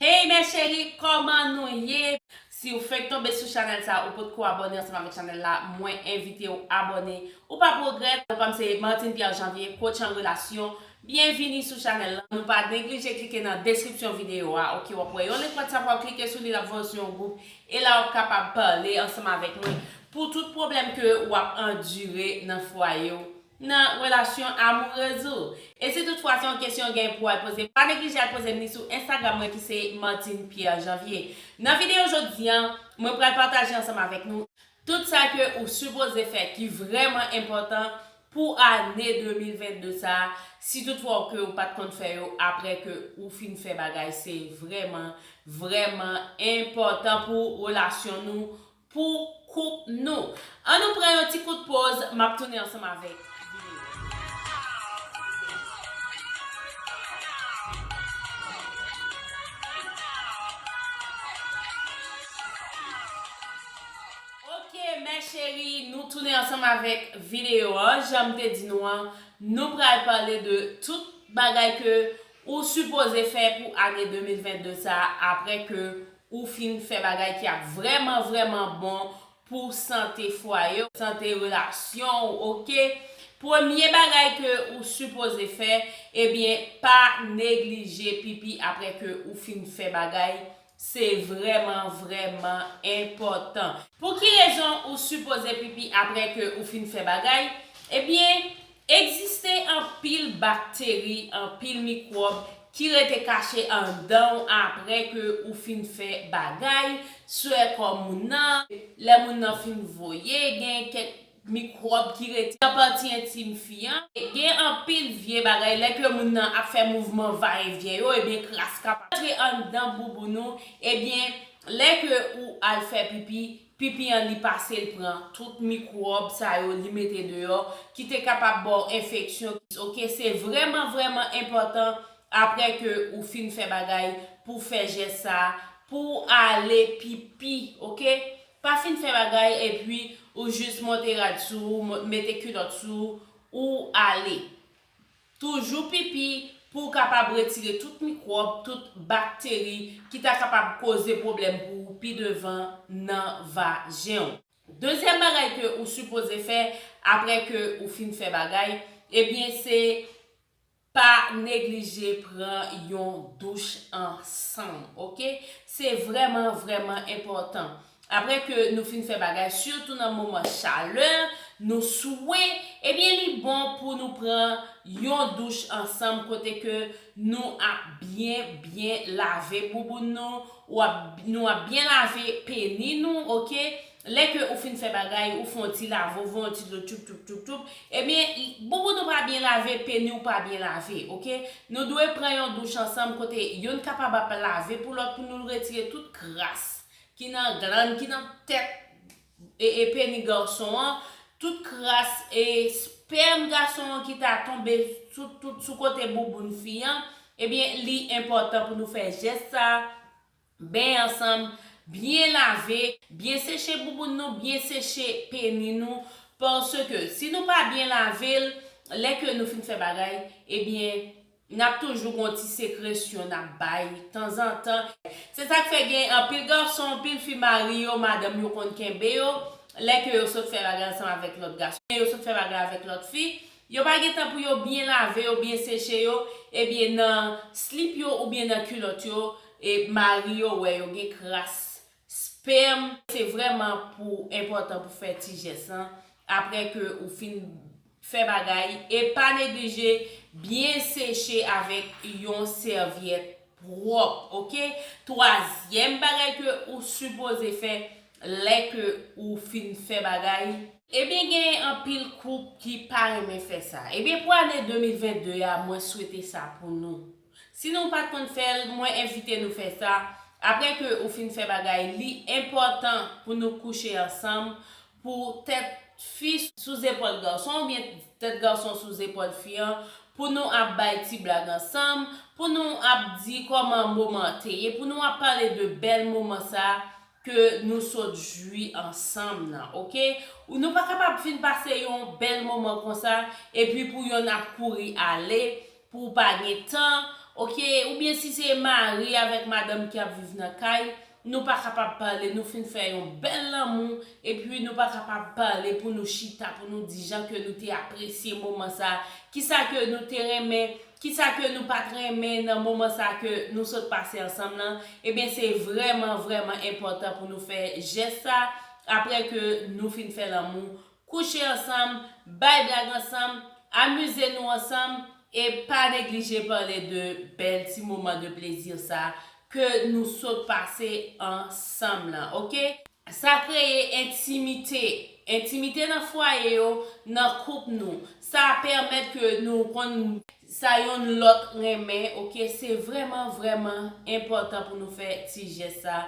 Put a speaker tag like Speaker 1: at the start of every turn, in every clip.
Speaker 1: Hey mes cherie koman nou ye? Siw fenk tonbe sou chanel sa ou potko abone ansanm avek chanel la mwen envitew abone ou pap regrèt. Non pam se Martine Pierre Janvier, coach an relasyon, byenvini sou chanel lan, nou pa neglije klike nan deskripsyon videyo a ok wap wè yon link WhatsApp wap klike sou li lap voyew sou yon gwoup e la wap kapab pale ansanm avèk mwen pou tout pwoblèm ke wap andire nan fwayew nan relasyon amourez ou. E si tout fwa se yon kesyon ou genyen pou al poze, pa neglije al poze m li sou Instagram mwen ki se Martine Pierre Janvier. Nan videyo jodi an, mwen pral pataje ansanm avèk nou, tout sa ke ou sipoze fè ki vrèman enpòtan pou ane 2022 sa a, si tout fwa ou ke ou pat konn fè yo aprè ke ou fin fè bagay se vrèman, vrèman enpòtan pou relasyon nou pou koup nou. An nou pran yon ti kout poz, map tounen ansanm avèk videyo. Ok mè cheri, nou tounen ansanm avèk videyo a. Janm te di nou an, nou pral pale de tout bagay ke ou sipoze fè pou ane 2022 sa aprè ke Ou fin fè bagay ki ap vrèman vrèman bon pou sante fwaye w, sante relasyon w ok. Premye bagay ke ou sipoze fè ebyen pa neglije pipi aprè ke ou fin fè bagay se vrèman vrèman enpòtan. Pou ki rezon ou sipoze pipi aprè ke ou fin fè bagay? Ebyen Egziste anpil bakteri, anpil mikwòb ki rete kache anndan w apre ke ou fin fè bagay, swè kò moun nan, lè moun nan fin voye, gen kèk mikwòb ki rete nan pati entim fi an, gen anpil vye bagay lè ke moun nan ap fè mouvman va e vyen yo ebyen kras kapab antre anndan bouboun ou ebyen lè ke ou al fè pipi pipi an li pase l pran tout mikwòb sa yo li mete deyò ki te kapab ba w enfeksyon ok se vrèman vrèman enpòtan aprè ke ou fin fè bagay pou w fè jès sa pou w ale pipi ok pa fin fè bagay epi ou jis monte rad sou ou mete kilòt sou ou ale. Toujou pipi pou w kapab retire tout mikwòb, tout bakteri ki ta kapab koze pwoblèm pou ou pi devan nan vajen w. Dezyèm bagay ke ou sipoze fè aprè ke ou fin fè bagay, ebyen se pa neglije pran yon douch ansanm ok. Se vrèman vrèman enpòtan. Aprè ke nou fin fè bagay, sitou nan moman chalè, nou swe, ebyen li bon pou nou pran yon douch ansanm kote ke nou ap byen byen lave bouboun nou, ou ap nou ap byen lave peni nou ok, lè ke ou fin fè bagay ou fon ti lave ou fon ti dlo tchoup tchoup tchoup tchoup ebyen bouboun ou pa byen lave peni ou pa byen lave ok nou dwe pran yon douch ansanm kote youn kapab ap lave pou lòt pou nou retire tout kras ki nan glann ki nan tèt e peni garson an, tout kras e spèm gason an ki ta tonbe sou tout sou kote bouboun fi an, ebyen li enpòtan pou nou fè jès sa, benyen ansanm, byen lave, byen seche bouboun nou, byen seche peni nou, paske si nou pa byen lave l, lè ke nou fin fè bagay, ebyen Nap toujou gon ti sekresyon nap bay tanzantan. Se sak fè gen anpil gason, anpil fi mari yo, madanm yo konn kenbe yo, lè ke yo sot fè bagay ansanm avèk lòt gason, oubyen yo sot fè bagay avèk lòt fi, yo pa gen tan pou yo byen lave yo, byen seche yo, ebyen nan slip yo oubyen nan kilòt yo, e mari yo wè yo gen kras Spèm, se vrèman pou enpòtan pou fè ti jès lan aprè ke ou fin fè bagay e pa neglije byen seche avèk yon sèvyèt pwòp ok twazyèm bagay ke ou sipoze fè lè ke ou fin fè bagay. Ebyen gen anpil koup ki pa renmen fè sa ebyen pou ane 2022 a mwen swete sa pou nou Si nou pat konn fèl, mwen envite nou fè sa, aprè ke ou fin fè bagay li enpòtan pou nou kouche ansanm pou tèt fi sou zepòl garson oubyen tèt garson sou zepòl fi an pou nou ap bay ti blag ansanm, pou nou ap di kòman moman an te ye, pou nou ap pale de bèl moman sa ke nou sot jwi ansanm nan ok nou pa kapab fin pase yon bèl moman konsa epi pou yonn ap kouri ale pou ou pa gen tan ok oubyen si se mari avèk madanm ki ap viv nan kay nou pa kapab pale nou fin fè yon bèl lanmou epi nou pa kapab pale pou nou chita pou nou di jan ke nou te apresye moman sa kisa ke nou te renmen Kisa ke nou pat renmen nan moman sa ke nou sot pase ansanm lan, ebyen se vrèman vrèman enpòtan pou nou fè jès sa aprè ke nou fin fè lanmou, kouche ansanm, bay blag ansanm, amize nou ansanm, e pa neglije pale de bèl ti moman de plezi sa ke nou sot pase ansanm lan ok. Sa kreye entimite, entimite nan fwaye yo, nan koup nou, sa pèmèt ke nou konn sa yonn lòt renmen ok, se vrèman vrèman enpòtan pou nou fè ti jès sa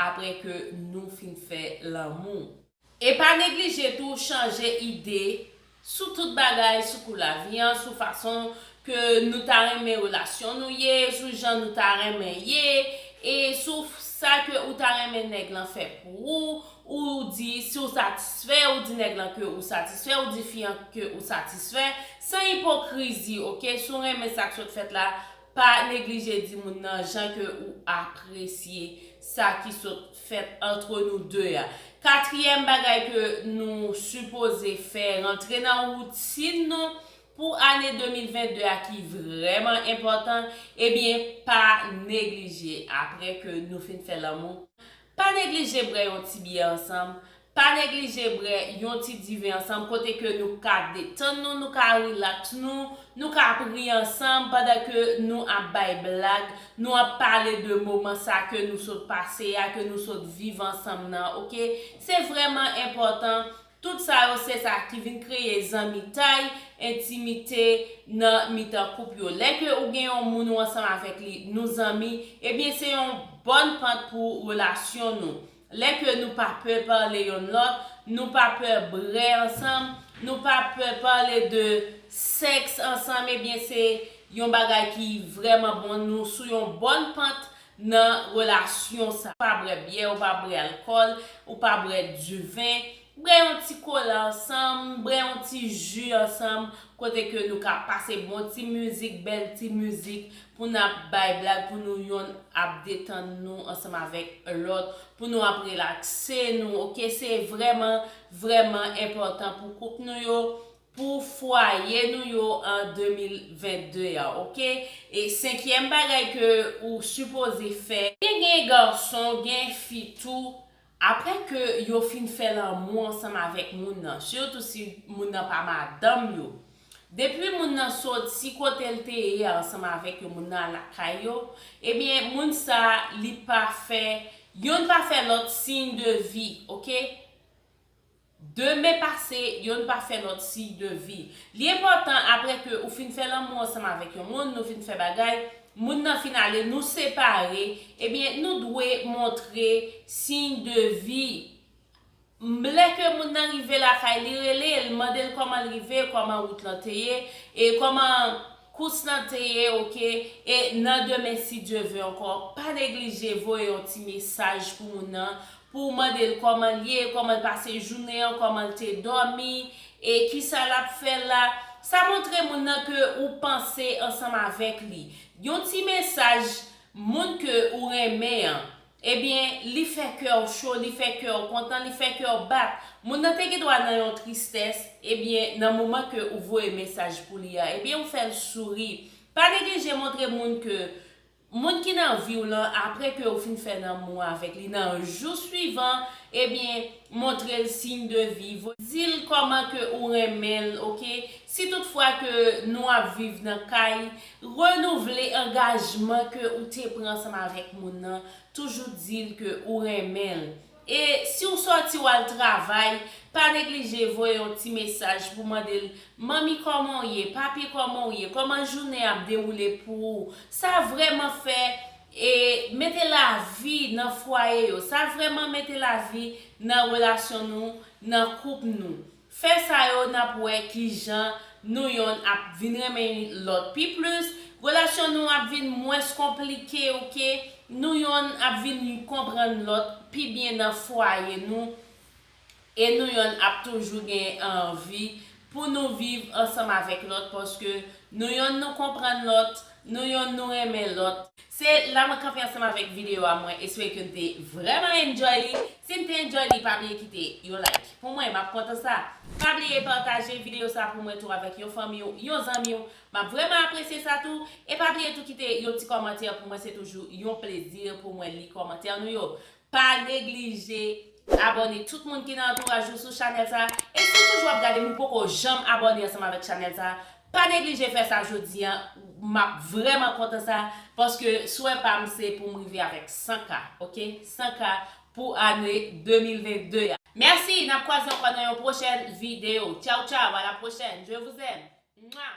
Speaker 1: aprè ke nou fin fè lanmou. E pa neglije tou chanje ide sou tout bagay, sou kou lavi an, sou fason ke nou ta renmen relasyon nou ye, sou jan nou ta renmen ye, e sou sa ke ou ta renmen nèg lan fè pou ou, ou di si w satisfè, ou di nèg lan ke ou satisfè, ou di fi an ke ou satisfè, san ipokrizi ok, si w renmen sa k sot fèt la, Pa neglije di moun nan jan ke ou apresye sa ki sot fèt antre nou de a. Katriyèm bagay ke nou sipoze fè rantre nan woutin nou pou ane 2022 a ki vrèman enpòtan, ebyen pa neglije apre ke nou fin fè lanmou, Pa neglije brè yon ti byè ansanm, pa neglije brè yon ti diven ansanm kote ke nou ka detann nou, nou ka rilaks nou, nou ka ap ri ansanm pandan ke nou ap bay blag, nou ap pale de moman sa ke nou sot pase a, ke nou sot viv ansanm nan ok. Se vrèman enpòtan Tout sa yo se sa ki vin kreye zanmitay, entimite nan mitan koup yo. Lè ke ou gen yon moun ou ansanm avèk li, nou zanmi, ebyen se yon bòn pant pou relasyon nou. Lè ke nou pa pè pale yonn lòt, nou pa pè bre ansanm, nou pa pè pale de sèks ansanm ebyen se yon bagay ki vrèman bon, nou sou yon bòn pant nan relasyon sa. Pa brè byè ou pa brè alkòl ou pa brè du vin brè yon ti kola ansanm brè yon ti ju ansanm kote ke nou ka pase bon ti mizik bèl ti mizik pou n ap bay blag pou nou yonn ap detann nou ansanm avèk lòt pou nou ap relakse nou ok se vrèman vrèman enpòtan pou koup nou yo pou fwaye nou yo an 2022 a ok e senkyèm bagay ke ou sipoze fè. Te gen gason gen fi tou aprè ke yo fin fè lanmou ansanm avèk moun nan sitou si moun nan pa madanm yo depi moun nan soti kotel te ye a ansanm avèk yo moun nan al lakay yo ebyen moun sa li pa fè yonn pa fè lòt siy de vi ok. Demen pase, yonn pa fè lòt siy de vi. Li enpòtan apre ke ou fin fè lanmou ansanm avèk yon moun, nou fin fè bagay, moun nan fin ale, nou separe, ebyen nou dwe montre siy de vi. M Lè ke moun nan rive lakay li, rele l, mande l kòman l rive, kòman wout lan te ye, e kòman kous lan te ye, ok. E nan demen si Dye ve ankò, pa neglije voye yon ti mesaj pou moun nan, pou w mande l kòman l ye, kòman l pase jounen an, kòman l te dòmi, e kisa l ap fè la. Sa montre moun nan ke ou panse ansanm avèk li. Yon ti mesaj moun ke ou renmen an, ebyen li fè kè w cho, li fè kè w kontan, li fè kè w bat. Moun nan te gendwa nan yon tristès, ebyen nan moman ke ou voye mesaj pou li a, ebyen ou fè l souri. Pa neglije montre moun ke Moun ki nan viw lan apre ke ou fin fè lanmou avèk li nan jou swivan ebyen montrel signe de vie, dil kòman ke ou renmenl ok si tout fwa ke nou ap viv nan kay renouvle angajman ke ou te pran ansanm avèk moun nan toujou dil ke ou renmenl E si w sòti w al travay, pa neglije voye yon ti mesaj pou mande l, Manmi kòman w ye? Papi kòman w ye? Kòman jounen an ap dewoule pou ou? Sa vrèman fè e mete lavi nan fwaye yo. Sa vrèman mete lavi nan relasyon nou, nan koup nou. Fè sa yo n ap wè ki jan nou yonn ap vin renmen yn lòt pi plis, relasyon nou ap vin mwens konplike ok, nou yonn ap vin yn konprann lòt pi byen nan fwaye nou e nou yonn ap toujou gen anvi pou nou viv ansanm avèk lòt paske nou yonn nou konprann lòt, Nou yonn nou renmen lòt. Se la mwen kanpe ansanm avèk video a mwen espere ke n te vrèman enjoy li si n te enjoy li pa bliye kite yon like pou mwen map kontan sa pa bliye pataje video sa pou mwen tou avèk yon fanmi w yon zanmi w map vrèman apresye sa tou e pa bliye tou kite yon ti kòmantè pou mwen se toujou yon plezi pou mwen li kòmantè nou yo Pa neglije abòne tout moun ki nan antouraj ou sou chanèl sa e si ou toujou ap gadem ou poko janm abòne ansanm avèk chanèl sa pa neglije fè sa jodi an map vrèman kontan sa paske swè pam se poum rive avèk 100 k ok 100 k pou ane 2022 a. Merci nap kwaze ankò nan yon prochèn video ciao ciao à la prochaine je vous aime. Mouah.